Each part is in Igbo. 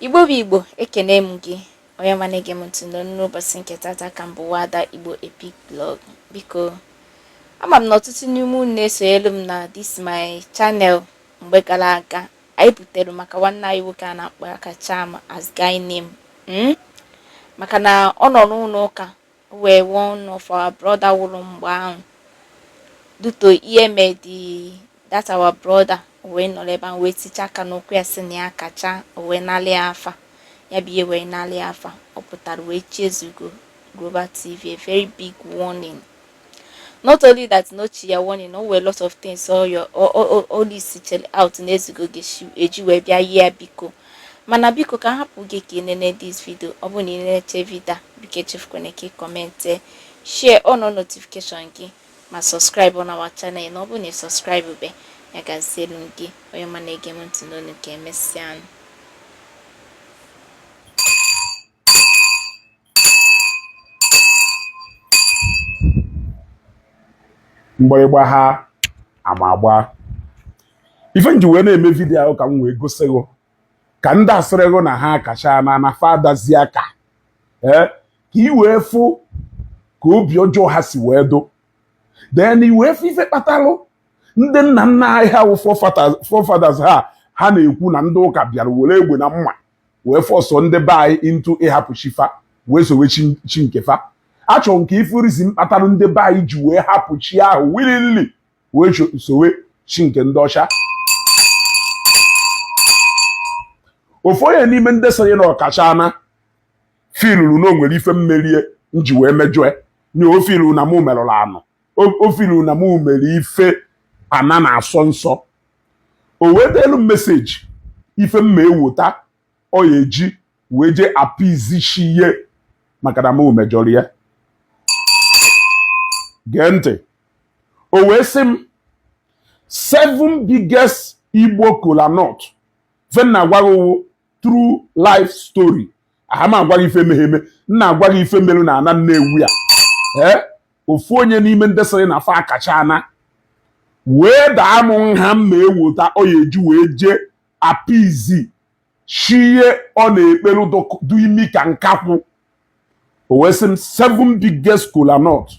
Igbo bụ Igbo ekene m gị onye ọma na-ege m ntị n'ụbọchị nke tata ka m bụ Wada Igbo epic blog biko ama m na ọtụtụ n'ime unu na-esonyelu m na this my channel mgbe gara aga anyị butere maka nwanne anyị nwoke a na-akpọ Akacham as guy name hmm? maka na ọ nọ n'ụlọ ụka where one of our brother wụrụ mgbe ahụ due to ihe made that our brother wee nọrọ ebe ahụ wee ticha aka n'ụkwụ ya sị na ya akacha wee nalị afa ya bụ ihe wee nalị afa ọ pụtara wee chi Ezeugo Global TV a very big warning not only that na o chi ya warning o nwee lot of things all your all, all, all this out na Ezeugo eji wee bịa yie biko Mana biko ka a hapụ gị ka ị nene this video, ọ bụrụ na ị nenecha video a, biko echefukwana ka ị comment, share on notification gị ma subscribe on our channel na ọ bụrụ na ị subscribe be ya gazielu gị onye ọma na-ege m ntị n'onu ka emesịanụ mgbịrịgba ha ama agba ife nji wee na-eme video a wụ ka m wee gosi gị ka ndị a sịrị gị na ha akachana na fadazi aka ee eh, ka i wee fụ ka obi ọjọọ ha si wee dụ then i wee fụ ife kpatalụ ndị nna nna anyị ha wụ forefathers ha ha na-ekwu na ndị ụka bịara were egbe na mma wee force ndị be anyị into ịhapụ chi fa wee sowe chi nke fa achọrọ m ka ị fụ reason kpatalụ ndị be anyị ji wee hapụ chi ahụ willingly wee sowe chi nke ndị ọcha ofu onye n'ime ndị sịrị na ọ kachana filuru na o nwere ife m mere nji wee mejọe nye o filuru na mụ merụrụ ana o filuru na mụ mere ife ana na-asọ nsọ o wetelu message ife m ma ewota ọ ya eji wee jee appease chi ihe maka na mụ mejọrọ ya gee ntị o wee sị m seven biggest Igbo kola nut ife m na-agwa gị ọ wụ true life story aha m agwa gị ife meghe eme m na-agwa gị ife merụ na ana Nnewi a ee eh? ofu onye n'ime ndị sịrị na fa akachana wee daa m nha m ma ewota ọ ya eji wee jee appease chi ya ọ na-ekpelu dụ imi ka nkakwụ o wee sị m seven biggest kola nut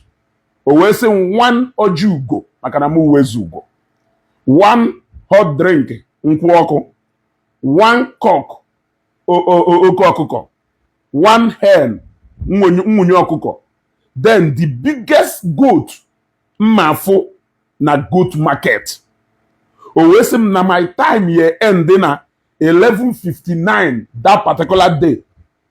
o wee sị m one ọjị ugo maka na m wụ eze ugo one hot drink nkwụ ọkụ one cock oke ọkụkọ one hen nwunye ọkụkọ then the biggest goat m ma-afụ na goat market o wee sị m na my time ye end na 11:59 that particular day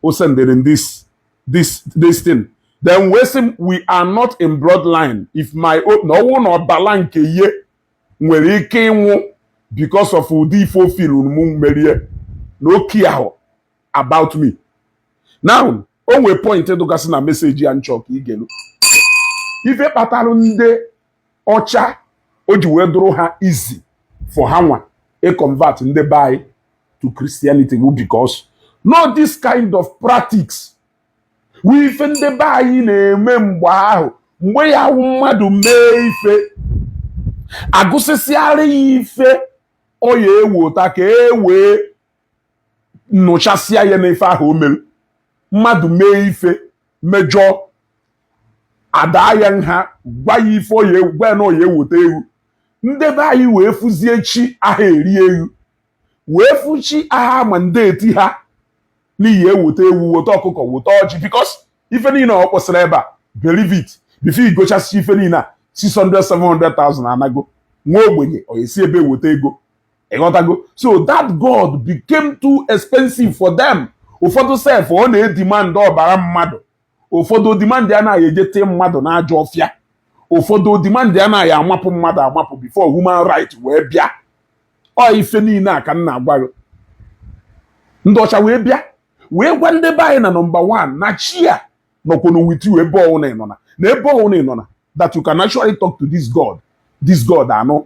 o sendere m this this this thing then wee sị m we are not in bloodline if my o- na ọnwụ na ọbala nke ihe nwere ike ịnwụ because of ụdị ife o feelu m merie na o care about me now o nwee point dụgasị na message a m chọ ka i gelu ife kpatara ndị ọcha o ji wee dụrụ ha easy for ha nwa ịconvert ndị be anyị to Christianity bụ because na ọ this kind of practice wụ ife ndị be anyị na-eme mgbe ahụ mgbe ya wụ mmadụ mee ife agụsịsịara ya ife ọ ya ewota ka e wee nụchasịa ya na ife ahụ o mere mmadụ mee ife mejọọ adaa ya nha gwa ya ife ọ ya gwa ya na ọ ya ewota ewu ndị be anyị wee fụzie chi aha eri ewu wee fụ chi aha amandate ha na ị ya ewota ewu wota ọkụkọ wota ọjị because ife niile ọ kpọsịrị ebe a believe it before i gochasịa ife niile a 600 700,000 anago nwa ogbenye ọ ya esi ebe wota ego ịghọtago so that god became too expensive for them ụfọdụ sef ọ na-edemand ọbara mmadụ ụfọdụ ọ demand na a ya ejete mmadụ n'ajọ ọfịa ụfọdụ ọ demand na a ya amapụ mmadụ amapụ before human right wee bịa ọ ife niile a ka m na-agwa gị ndị ọcha wee bịa wee gwa ndị be anyị na number 1 na chi a nọkwanụ with you ebe ọwụna ịnọ na na ebe ọwụna ịnọ na that you can actually talk to this God this God anụ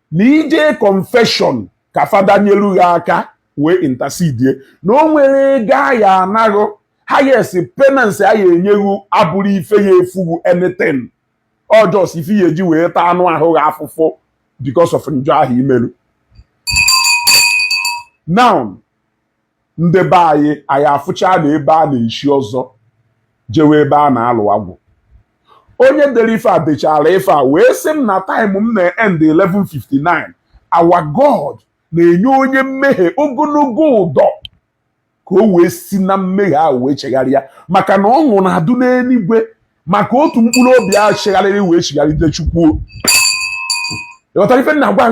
na ije confession ka fada nyelu gị aka wee intercede na o nwere ego a ya ana gị highest penance a ya enye gị abụrụ ife ya efu gị anything ọ just ife ya eji wee taa anụ ahụ gị afụfụ because of njọ ahụ i melu now ndị be anyị anyị afụcha na ebe a na-echi ọzọ jewe ebe a na-alụ agwụ onye dere ife a dechara ife a wee sị m na time m na-end 11:59 our God na-enye onye mmehie ogologo ụdọ ka o wee si na mmehie ahụ wee chegharịa maka na ọṅụ na-adụ n'eluigwe maka otu mkpụrụ obi ahụ chegharịrị wee chigharịte Chukwu ịghọtara ife m na-agwa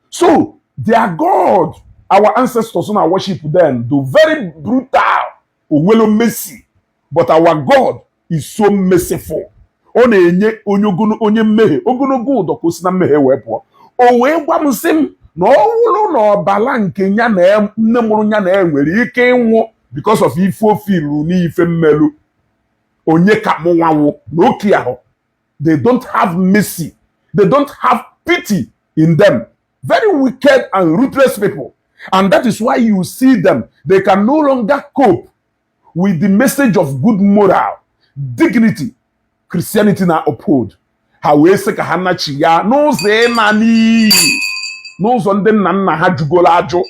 So, their God, our ancestors na worship then, dụ very brutal, o nwelo mercy. But our God is so merciful. Ọ na-enye onye ogolo- onye mmehie ogologo ụdọ ka o si na mmehie wee pụọ. O wee gwa m sị m na ọ wụrụ na ọbala nke ya na ya- nne mụrụ ya na ya nwere ike ịnwụ because of ife o furu n'ife m melu onye ka mụ nwa nwụ nwoke ahụ they don't have mercy they don't have pity in them very wicked and ruthless people and that is why you see them they can no longer cope with the message of good moral dignity Christianity na uphold ha wee sị ka ha nachi ya n'ụzọ ịna n'iyi n'ụzọ ndị nna nna ha jụgoro ajụ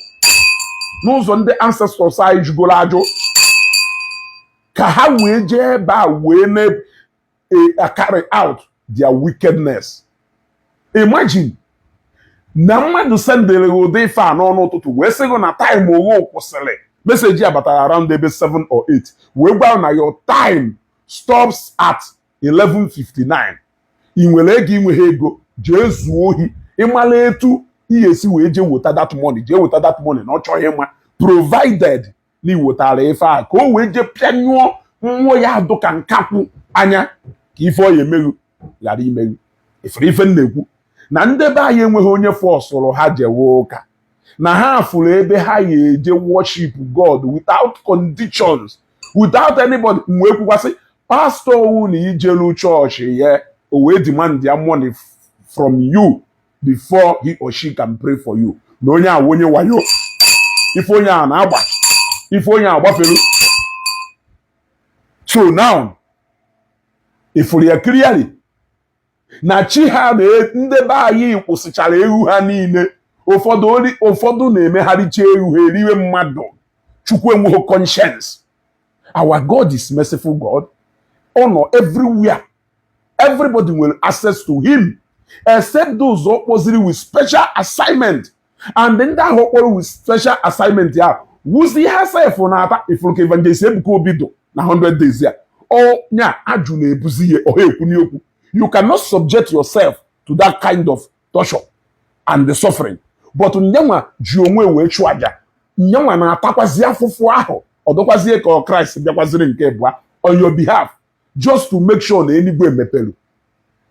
n'ụzọ ndị ancestors anyị jụgoro ajụ ka ha wee jee ebe a wee e, carry out their wickedness imagine na mmadụ sendere gị ụdị ife a n'ọnụ ụtụtụ wee sị gị na time oghe kwụsịrị message a batara around ebe 7 or 8 wee gwa na your time stops at 11:59 i nwere ego i nweghị ego jee zuo ohi ị mala etu ị ya esi wee jee weta that money jee weta that money na ọ chọghị ịma provided na i wetara ife a ka o wee jee pịanyụọ mmụọ ya adụ ka nkakwụ anya ka ife ọ ya eme ghụ ghara ime ghụ i furu ife m na-ekwu na ndị be anyị enweghị onye fọsụrụ ha jewe ụka na ha fụrụ ebe ha ya eje worship God without conditions without anybody m wee kwukwa sị pastor ọwụna i jelu chọọchị ya o wee demand ya money from you before he or she can pray for you na onye a wụ onye wayo ife onye ahụ na-agba ife onye ahụ gbafere so now i furu ya clearly na chi ha na e, ndị be anyị kpụsịchara ewu ha niile ụfọdụ na-emegharịcha ewu ha eriwe mmadụ chukwu enweghị conscience our God is merciful God ọ nọ everywhere everybody nwere access to him except those ọ kpọziri with special assignment and ndị ahụ ọ kpọrọ with special assignment ya wuzi ha sef na-ata ị fụrụ ka evangelist Ebuka Obi dụ na 100 days ya anya ajụ na-ebuzi ya ọ ha ekwu n'okwu you cannot subject yourself to that kind of torture and the suffering but nyanwa ji onwe wee chụọ aja nyanwa na-atakwazi afụfụ ahụ ọ dụkwazie ka Christ bịakwaziri nke ịbụa on your behalf just to make sure na eluigwe mepere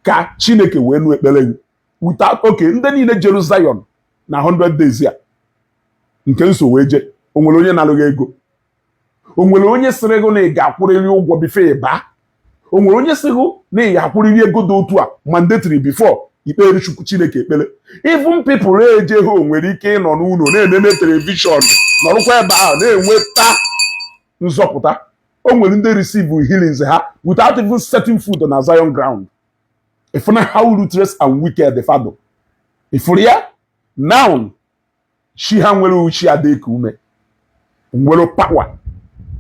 ka chineke wee nụ ekpere gị without okay ndị niile jeru Zion na 100 days ya nke m so wee je onwere onye nara gị ego onwere onye sịrị gị na ị ga-akwụrịrị ụgwọ before ị baa onwere onye sịrị gị na ị ga-akwụrịrị ego dị otu a mandatory before i kpeere chukwu chineke ekpere even people eje ha nwere ike ịnọ n'ụlọ na-enene telivishọn nọrụkwa ebe ahụ na-enweta nzọpụta o nwere ndị receive healings ha without even setting foot na Zion ground ị fụna how ruthless and wicked fa dụ ị fụrụ ya now chi ha nwere uchi adịka ume nwere power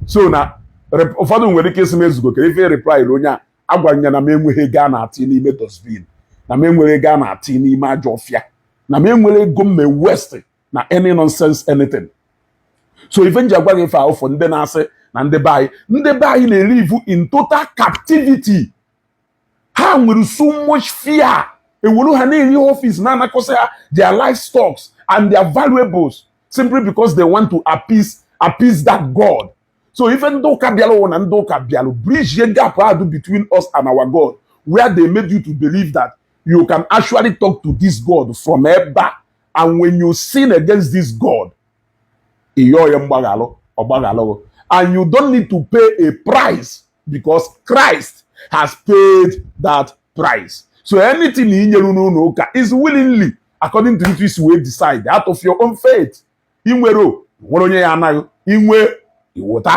so na ụfọdụ nwere ike ịsị m Ezeugo kee ife reply onye a agwara ya na m enweghị ego a na-atụ n'ime dustbin na m enwere ego a na-atụ n'ime ajọ ọfịa na m enwere ego mme waste na any nonsense anything so ife m ji agwa gị ife a bụ for ndị na-asị na ndị be anyị ndị be anyị na-elive in total captivity ha nwere so much fear eworo ha na-eri office na-anakọsị ha their livestock and their valuables simply because they want to appease appease that God so ife ndị ụka bịara bụ na ndị ụka bịara bridge gap a dụ between us and our God where they made you to believe that you can actually talk to this God from ebe a and when you sin against this God ị yọọ ya mgbaghalụ ọ gbaghalụ gị and you don't need to pay a price because Christ has paid that price so anything ị nyere n'ụlọ ụka is willingly according to etu i si wee decide out of your own faith ị nwere onwere onye ya-ana gị i nwee i wote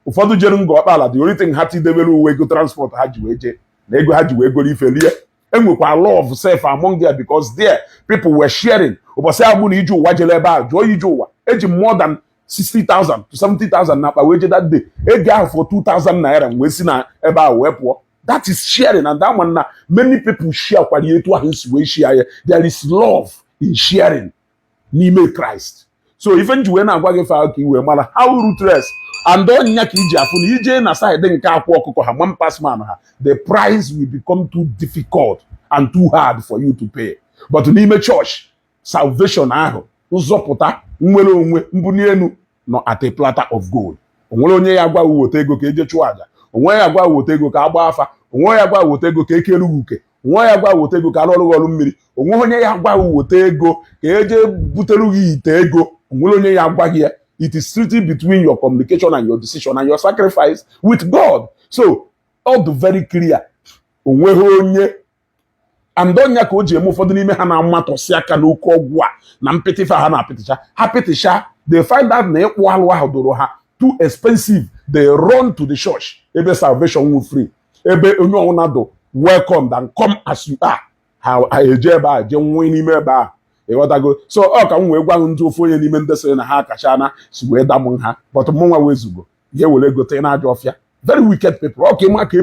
ụfọdụ jere Ngor Okpala the only thing ha tidebere bụ ego transport ha ji wee jee na ego ha ji wee goro ife rie enwekwa love sef among there because there people were sharing ụbọchị ahụ mụ na ije ụwa jere ebe ahụ jụọ ije ụwa eji m more than 60,000 to 70,000 na akpa wee je that day ego ahụ fọrọ 2,000 naira m wee si na ebe ahụ wee pụọ that is sharing and a ma m na many people share kwara etu ahụ m si wee share ya there is love in sharing n'ime Christ so ife m ji wee na-agwa gị ife a bụ ka i wee mara how ruthless and ọ nya ka i ji afụ na i jee na side nke Akwa Ọkụkọ ha man pass man ha the price will become too difficult and too hard for you to pay but n'ime church salvation ahụ nzọpụta nnwere onwe mbuni enu nọ at a platter of gold onwere onye ya gwa gị wote ego ka eje chụọ aja onwe ya gwa wote ego ka agba afa onwe ya gwa wote ego ka ekere gị uke onwe ya gwa wote ego ka arụọrọ gị ọrụ mmiri onwe onye ya gwa gị wote ego ka eje butere gị ite ego onwere onye ya gwa gị ya it is strictly between your communication and your decision and your sacrifice with God so ọ dị very clear onweghị onye and ọ nya ka o ji eme ụfọdụ n'ime ha na-amatọsi aka n'oke ọgwụ a na mpịtịfa ha na-apịtịcha ha pịtịcha they find out na ịkpụ alụ ahụ dụrụ ha too expensive they run to the church ebe salvation wụ free ebe onye ọwụna dụ welcome and come as you are ha eje ebe a je nwee n'ime ebe a ị ghọtago so ọ ka m wee gwa ndị ofu onye n'ime ndị sịrị na ha kacha na si wee damụ ha but mụ nwa wee zugo ya were ghọta na ajọ ọfịa very wicked people ọ ka ị ma ka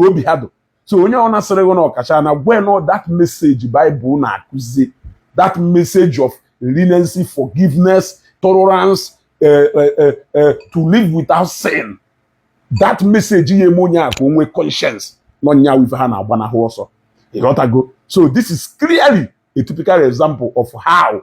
obi ha dụ so onye ọwụna sịrị gị na ọkacha na gwa ya na ọ that message Bible na-akụzi that message of leniency forgiveness tolerance uh, uh, uh, to live without sin that message ya eme onye a ka o nwee conscience na ọ nya wụ ife ha na-agbanahụ ọsọ ị ghọtago so this is clearly a typical example of how